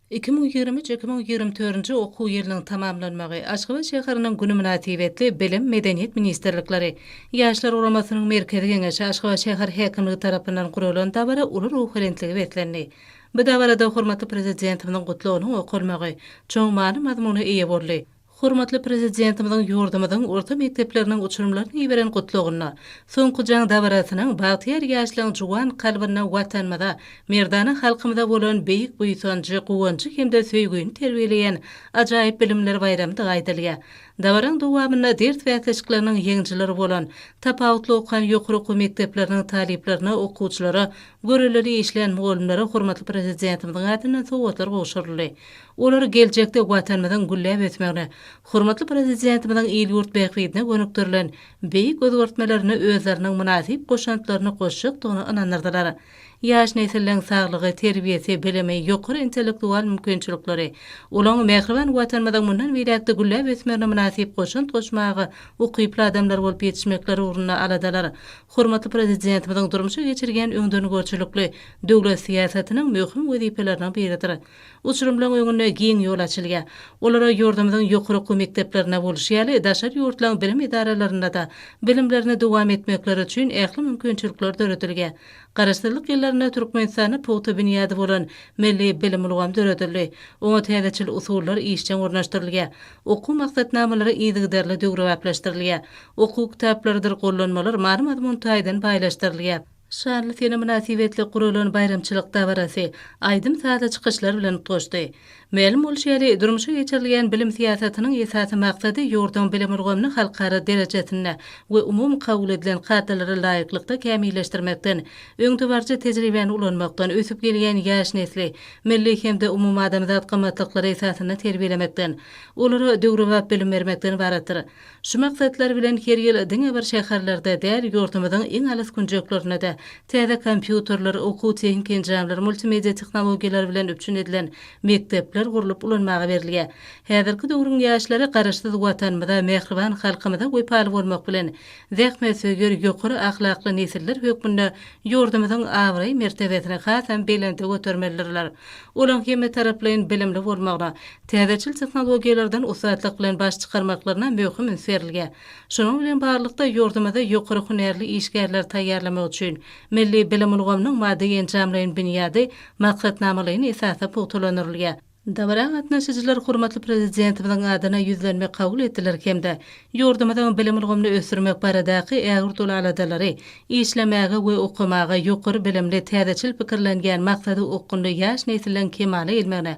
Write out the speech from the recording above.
Iki müň ýigrimi üç, iki müň ýigrimi dördünji okuw ýylynyň tamamlanmagy, Aşgabat şäheriniň güni mynasybetli Bilim, Medeniýet ministrlikleri, Ýaşlar guramasynyň Merkezi Geňeşi, Aşgabat şäher häkimligi tarapyndan guralan dabara uly ruhubelentlige beslendi. Bu dabarada hormatly Prezidentimiziň Gutlagynyň okalmagy, çuň many-mazmuna eýe boldy. Hormatly Prezidentimiziň ýurdumyzyň orta mekdepleriniň uçurymlaryna iberen Gutlagynda, Soňky jaň dabarasynyň bagtyýar ýaşlaryň juwan kalbynda Watanymyza, merdana halkymyza bolan beýik buýsanjy, guwanjy hem-de söýgini terbiýeleýän ajaýyp bilimler baýramydygy aýdylýar. Dabaraň dowamynda ders bäsleşikleriniň ýeňijileri bolan, tapawutly okan ýokary okuw mekdepleriniň talyplaryna, okuwçylara, görellili işleýän mugallymlara hormatly Prezidentimiziň adyndan sowgatlar gowşuryldy. Olary geljekde Watanymyzyň gülläp ösmegine, hormatly Prezidentimiziň il-ýurt bähbidine gönükdirilen beýik özgertmelerine özleriniň mynasyp goşantlaryny goşjakdygyna ynandyrdylar. Ýaş nesilleriň saglygy, terbiýesi, bilimi, ýokary intellektual mümkinçilikleri, olaň mähriban Watanymyzyň mundan beýläk-de gülläp ösmegine mynasyp goşant goşmaga ukyply adamlar bolup ýetişmekleri ugrunda aladalar hormatly Prezidentimiziň durmuşa geçirýän öňdengörçilikli döwlet syýasatynyň möhüm wezipeleriniň biridir. Uçurymlaryň öňünde giň ýol açylýar. Olara ýurdumyzyň ýokary okuw mekdeplerinde bolşy ýaly, daşary ýurtlaryň bilim edaralarynda-da bilimlerini dowam etmekleri üçin ähli mümkinçilikler döredilýär. Garaşsyzlyk ýyllarynda Türkmenistanda pugta binýady bolan milli bilim ulgamy döredildi. Oňa täzeçil usullar işjeň ornaşdyrylýar. Okuw maksatnamalary yzygiderli döwrebaplaşdyrylýar. Okuw kitaplarydyr gollanmalar many-mazmun taýdan baýlaşdyrylýar. Şanly sene mynasybetli guralan baýramçylyk dabarasy aýdym-sazly çykyşlar bilen utgaşdy. Mälim bolşy ýaly, durmuşa geçirilýän bilim syýasatynyň esasy maksady ýurduň bilim ulgamyny halkara derejesinde we umumy kabul edilen kadalara laýyklykda kämilleşdirmekden, öňdebaryjy tejribäni ulanmakdan, ösüp gelýän ýaş nesli milli hem-de umumadamzat gymmatlyklar esasynda terbiýelemekden, olara döwrebap bilim bermekden ybaratdyr. Şu maksatlar bilen her ýyl diňe bir şäherlerde däl, ýurdumyzyň iň alys künjeklerinde-de täze kompýuterler, okuw-tehniki enjamlar, multimedia tehnologiýalary bilen üpjün edilen mekdepler gurlup ulanmaga berilýär. Häzirki döwrüň ýaşlary Garaşsyz Watanymyza, mähriban halkymyza wepaly bolmak bilen, zähmetsöýer, ýokary ahlakly nesiller hökmünde ýurdumyzyň abraý-mertebesini hasam belende götermelidirler. Olaň hemmetaraplaýyn bilimli bolmagyna, täzeçil tehnologiýalardan ussatlyk bilen baş çykarmaklaryna möhüm üns berilge. Şunuň bilen barlykda, ýurdumyzda ýokary hünärli işgärleri taýýarlamak üçin milli bilim ulgamynyň maddy-enjamlaýyn binýady maksatnamalaýyn esasda pugtalandyrylýar. Dabara gatnaşyjylar hormatly Prezidentimiziň adyna ýüzlenme kabul etdiler hem-de ýurdumyzyň bilim ulgamyny ösdürmek baradaky ägirt uly aladalary, işlemäge we okamaga ýokary bilimli, täzeçil pikirlenýän, maksady okgunly ýaş nesliň kemala gelmegine